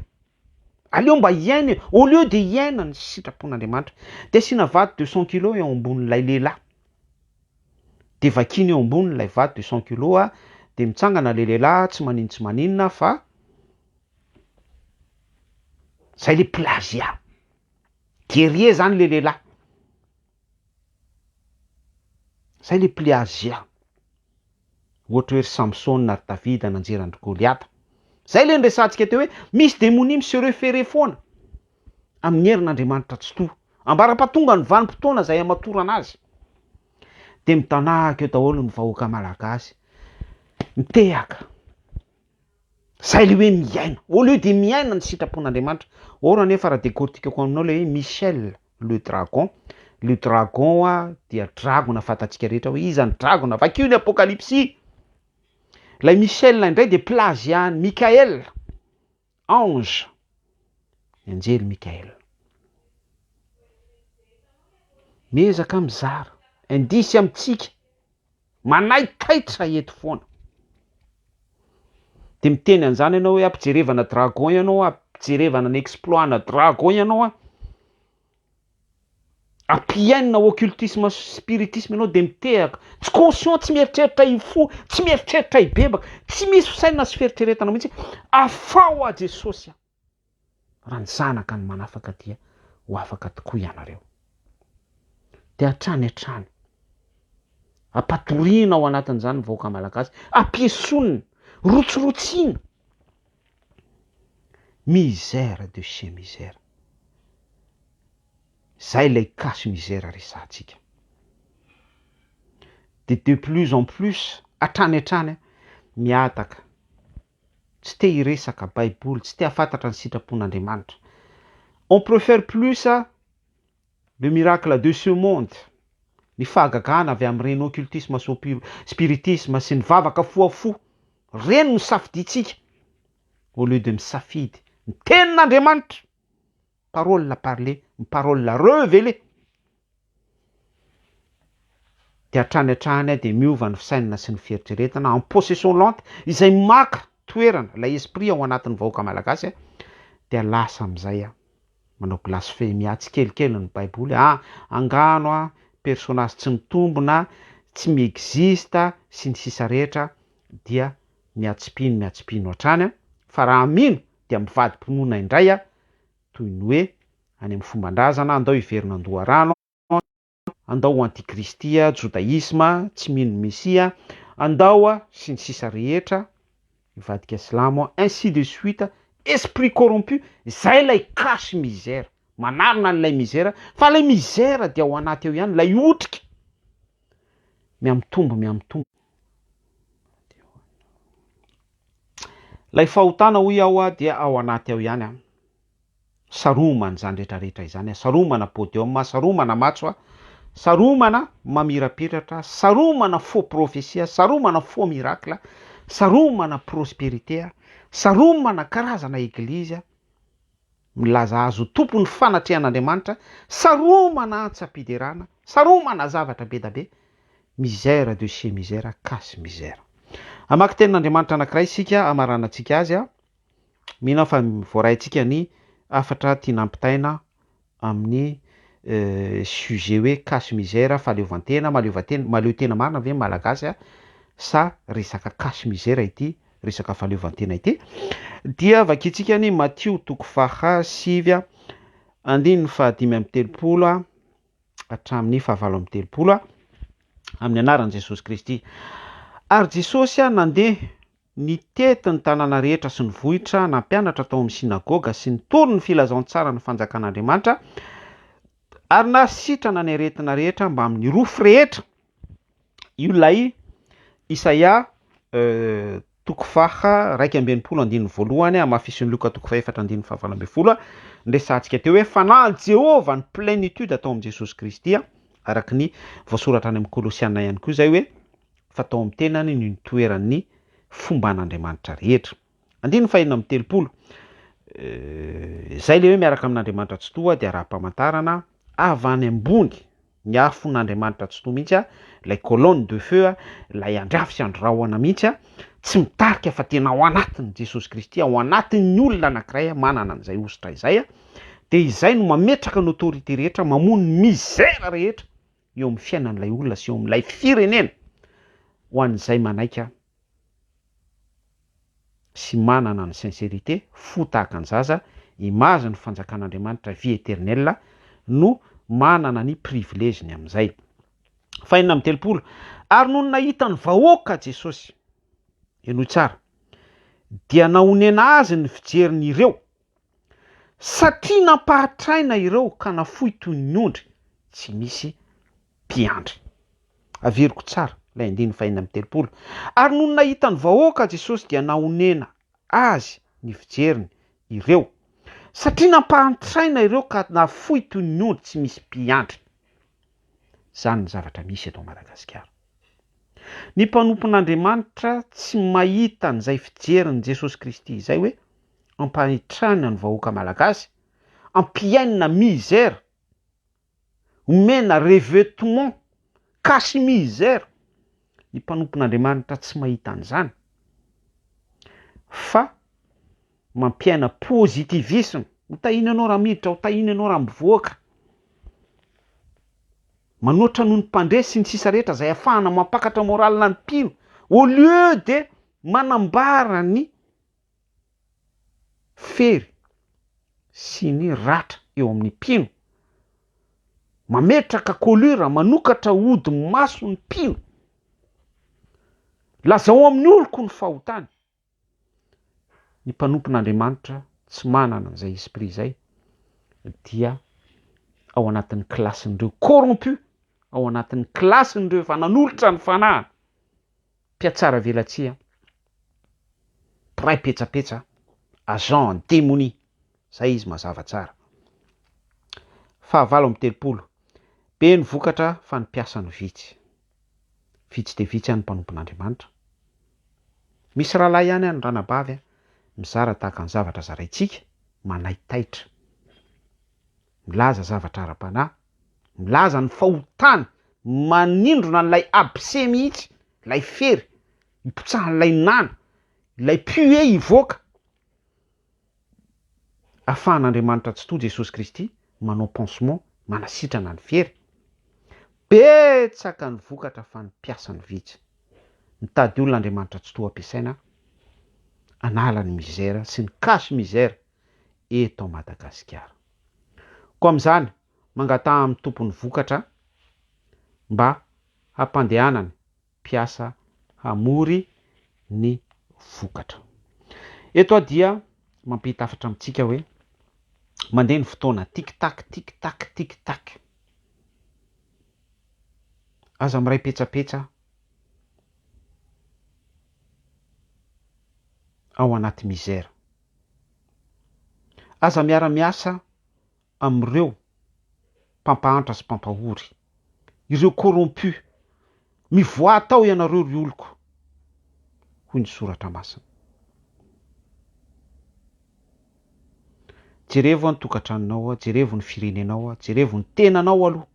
Speaker 1: aleo mba hiaina e, au lieu de hiaina ny sitrapon'Andriamanitra, de asiana vato deux cent kilos eo ambonin'ilay lehilahy, de vakiana eo ambonin'ilay vato deux cent kilos a, de mitsangana le lehilahy tsy maninona tsy maninona fa zay le plagiat. Guerrier zany le lehilahy. Zay le pliazia. Ohatra hoe ry Samson ary Davida nanjera andry Goliata. Zay le niresahantsika teo hoe misy demonia mi se referer foana amin'ny herin'Andriamanitra tsitoha. Ambara-pahatonga ny vanim-potoana izay hamatorana azy. Dia mitanahaka eo daholo ny vahoaka malagasy mitehaka. Zay le hoe miaina, au lieu de miaina ny sitrapon'Andriamanitra. Or anefa raha decortiquer-ko aminao le hoe Michel le dragon, le dragon ho'a dia dragona fantatsika rehetra hoe iza ny dragona, vakio ny Apokalypsy. Ilay Michel indray dia plagiat-n'i Mickaël, ange, ny anjely Mickaël. Miezaka mizara, indisy amintsika. Manaitaitra eto foana. Dia miteny an'izany ianao hoe ampijerevana dragon ianao a, ampijerevana ny exploit-na dragon ianao a, ampihainina ao occultisme sy spiritisme ianao dia mitehaka, tsy conscient, tsy mieritreritra hifoha, tsy mieritreritra hibebaka, tsy misy fisainana sy fieritreretana mihitsy, afaho aho Jesosy a! Raha ny zanaka no manafaka dia ho afaka tokoa ianareo. Dia hatrany hatrany, ampatoriana ao anatin'izany ny vahoaka malagasy, ampiesonina, rotsirotsiana. Misère de chez misère. Izay ilay cas misère resahantsika. Dia de plus en plus, hatrany hatrany, mihataka tsy te hiresaka baiboly, tsy te hafantatra ny sitrapon'Andriamanitra. On préfère plus le miracle de ce monde, ny fahagagana avy amin'ireny occultisme sy spiritisme sy ny vavaka fohafoha, ireny no safidiantsika au lieu de misafidy ny tenin'Andriamanitra. Parole parle ny parole revele dia hatrany hatrany dia miova ny fisainana sy ny fieritreretana en possession lente izay maka toerana ilay esprit ao anatin'ny vahoaka malagasy dia lasa amin'izay manao blasfemia tsikelikely ny baiboly ah angano ah personnage tsy mitombina tsy mi-existe sy ny sisa rehetra dia miatsipino miatsipino hatrany fa raha mino dia mivadi-pinoana indray aho, toy ny hoe any amin'ny fomban-drazana, andao hiverina an-doharano, andao ho antikristy, jodaisma, tsy mino ny Mesia, andao, sy ny sisa rehetra, hivadika silamo, ainsi de suite, esprit corrompu, izay ilay cache misère, manarina an'ilay misère, fa ilay misère dia ao anaty ao ihany, ilay otrika, mihamitombo, mihamitombo. Ilay fahotana hoy aho dia ao anaty ao ihany, saromana izany rehetra rehetra izany, saromana podium, saromana matso, saromana mamirapiratra, saromana faux prophetie, saromana faux miracle, saromana prosperité, saromana karazana eglizy, Milaza azy ho tompon'ny fanatrehan'Andriamanitra, saromana antsam-piderana, saromana zavatra bedabe, misère de chez misère, cas misère. Hamaky tenin'Andriamanitra anankiray isika hamaranantsika azy. Mino aho fa voaraintsika ny hafatra tiana ampitaina amin'ny sujet hoe cas misère, fahaleovantena, mahaleovantena, mahaleo tena marina ve ny Malagasy sa resaka cas misère ity resaka fahaleovantena ity dia vakintsika ny Matio toko faha sivy andininy faha dimy amby telopolo hatramin'ny faha valo amby telopolo amin'ny anaran'i Jesosy Kristy. Ary Jesosy nandeha nitety ny tanàna rehetra sy ny vohitra, nampianatra tao amin'ny synagoga sy nitory ny filazantsaran'ny fanjakan'Andriamanitra ary nasitrana ny aretina rehetra mbamin'ny rofy rehetra. Io ilay Isaia toko faha iraika amby enimpolo andininy voalohany hamafisin'i Lioka toko faha efatra andininy fahavalo ambin'ny folo ny resahantsika teo hoe fanahin'i Jehovah ny plénitude atao amin'i Jesosy Kristy araka ny voasoratra any amin'ny Kolosiana ihany koa izay hoe fa tao amin'ny tenany no nitoeran'ny fomban'Andriamanitra rehetra. Andininy faheenina amby telopolo. Izay ilay hoe miaraka amin'Andriamanitra Tsitoha dia raha-pamantarana avy any ambony ny afon'Andriamanitra Tsitoha mihitsy a, ilay colonne de feu a, ilay andry afo sy andry rahona mihitsy a, tsy mitarika fa tena ao anatin'i Jesosy Kristy, ao anatin'ny olona anankiray a, manana an'izay hosotra izay a, dia izay no mametraka ny autorité rehetra, mamono ny misère rehetra, eo amin'ny fiainan'ilay olona sy eo amin'ilay firenena ho an'izay manaika sy manana ny sincérité fo tahaka ny zaza, image ny fanjakan'Andriamanitra vie éternelle no manana ny privilège ny amin'izay. Fahenina amby telopolo, Ary nony nahita ny vahoaka Jesosy, henoy tsara, dia nahonena azy ny fijerin'ireo, Satria nampahatraina ireo ka nafoy toy ny ondry tsy misy mpiandry. Averiko tsara ilay andininy faheenina amby telopolo, Ary nony nahita ny vahoaka Jesosy dia nahonena Azy ny fijeriny ireo, satria nampahantraina ireo ka nafoy toy ny ondry tsy misy mpiandry. Izany ny zavatra misy eto Madagasikara. Ny mpanompon'Andriamanitra tsy mahita an'izay fijerin'i Jesosy Kristy izay hoe, ampahitrana ny vahoaka malagasy, ampihainina misère, omena revêtement cache misère ny mpanompon'Andriamanitra tsy mahita an'izany fa mampiaina positivisme, ho tahiana ianao raha miditra, ho tahiana ianao raha mivoaka, manoatra noho ny mpandre sy ny sisa rehetra izay afahana mampakatra morale ny mpino au lieu de manambara ny fery sy ny ratra eo amin'ny mpino, mametraka colure, manokatra ody maso ny mpino, lazao amin'ny oloko ny fahotany, ny mpanompon'Andriamanitra tsy manana an'izay esprit izay dia ao anatin'ny classe-n'ireo corrompus, ao anatin'ny classe-n'ireo efa nanolotra ny fanahiny. Mpiatsara velatsihy an! Mpiray petsapetsa an! Agent en demonie! Zay izy mazava tsara. Fahavalo amby telopolo. Be ny vokatra fa ny mpiasa no vitsy. Vitsy dia vitsy any mpanompon'Andriamanitra. Misy rahalahy ihany any ranabavy an! Mizara tahaka ny zavatra zaraintsika, manaitaitra. milaza zavatra ara-panahy, milaza ny fahotany, manindrona an'ilay abcès mihitsy, ilay fery ipotsahan'ilay nana, ilay puer hivoaka. Afahan'Andriamanitra Tsitoha Jesosy Kristy manao pansement, manasitrana ny fery. Betsaka ny vokatra fa ny mpiasany vitsy. Mitady olona Andriamanitra Tsitoha ampiasaina hanala ny misère sy ny cache misère. eto Madagasikara. Koa amin'izany, mangataha amin'ny Tompo ny vokatra mba hampandehanany mpiasa hamory ny vokatra. Eto aho dia mampita hafatra amintsika hoe mandeha ny fotoana, tic tac, tic tac, tic tac. Aza miray petsapetsa ao anaty misère. Aza miara-miasa amin'ireo mpampahantra sy mpampahory, ireo corrompus. Mivoaha tao ianareo ry oloko, hoy ny Soratra Masina. Jerevo ny tokantranonao, jerevo ny firenenao, jerevo ny tenanao aloha.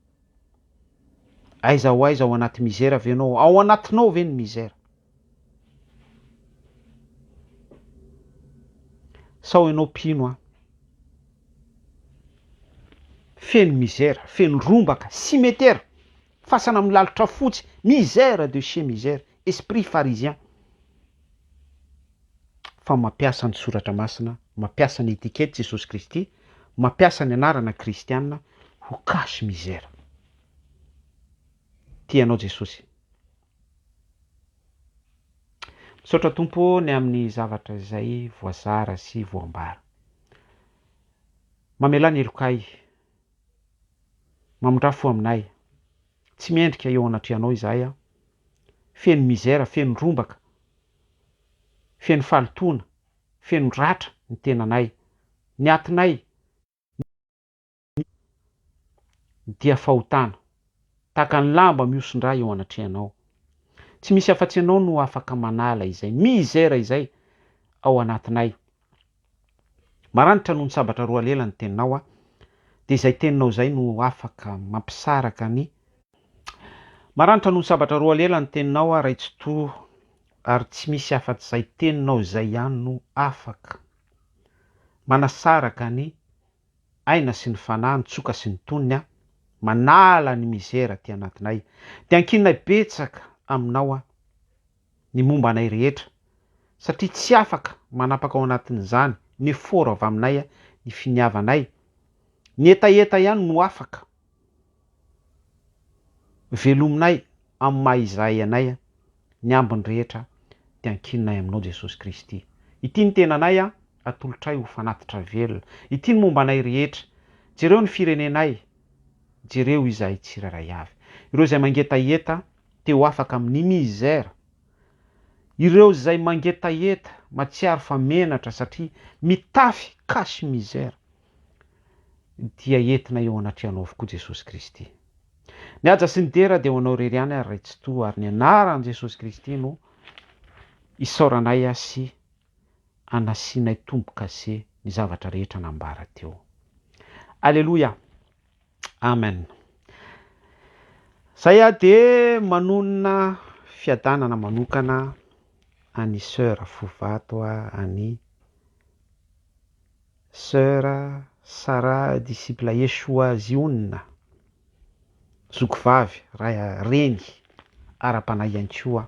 Speaker 1: Aiza ho aiza, ao anaty mizera ve ianao? Ao anatinao ve ny mizera? Sao ianao mpino an! Feno misère, feno rombaka, cimetera, fasana amin'ny lalitra fotsy, misère de chez misère, esprit pharisien, fa mampiasa ny soratra masina, mampiasa ny etiquette Jesosy Kristy, mampiasa ny anarana kristiana ho cache misère. Tia anao Jesosy. Misaotra Tompo ô ny amin'ny zavatra izay voazara sy voambara. Mamelà ny helokay. Mamindrà fo aminay. Tsy mendrika eo anatrehanao izahay an. Feno misère, feno rombaka, feno fahalotoana, feno ratra ny tenanay, ny atinay, ny. Ny dia fahotana. Tahaka ny lamba mihoson-drà eo anatrehanao. Tsy misy afa-tsy Ianao no afaka manala izay misère izay ao anatinay. Maranitra noho ny sabatra roa lela ny Teninao aho, dia izay Teninao izay no afaka mampisaraka ny. Maranitra noho ny sabatra roa lela ny Teninao aho, Ray Tsitoha, ary tsy misy afa-tsy izay Teninao izay ihany no afaka manasaraka ny. aina sy ny fanahy ny tsoka sy ny tonony aho manala ny misère aty anatinay de ankininay betsaka aminao aho ny momba anay rehetra satria tsy afaka manapaka ao anatin'izany ny effort avy aminay ny finiavanay ny hetaheta ihany no afaka Velominay amin'ny maha Izahay anay ny ambiny rehetra dia ankininay aminao Jesosy Kristy. Ity ny tenanay an, atolotray ho fanatitra velona. Ity ny momba anay rehetra. Jereo ny firenenay, jereo izahay tsirairay avy. Ireo izay mangetaheta te ho afaka amin'ny misère. Ireo izay mangetaheta, matsiaro fa menatra satria mitafy cache-misère. dia entina eo anatrehanao avokoa Jesosy Kristy. Ny haja sy ny dera dia ho anao irery ihany ary Ray Tsitoha ary ny anaran'i Jesosy Kristy no isaoranay sy anasianay tombo-kase ny zavatra rehetra nambara teo. Aleloia. Amen. Zay aho dia manonona fiadanana manokana an'i Sœur Fovato any Sœur Sarah disciple Yeshua Ziona, zoky vavy, ray, reny, ara-panahy ihany koa.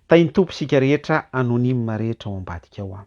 Speaker 1: Tahin'ny Tompo isika rehetra anonyme rehetra ao ambadika ao.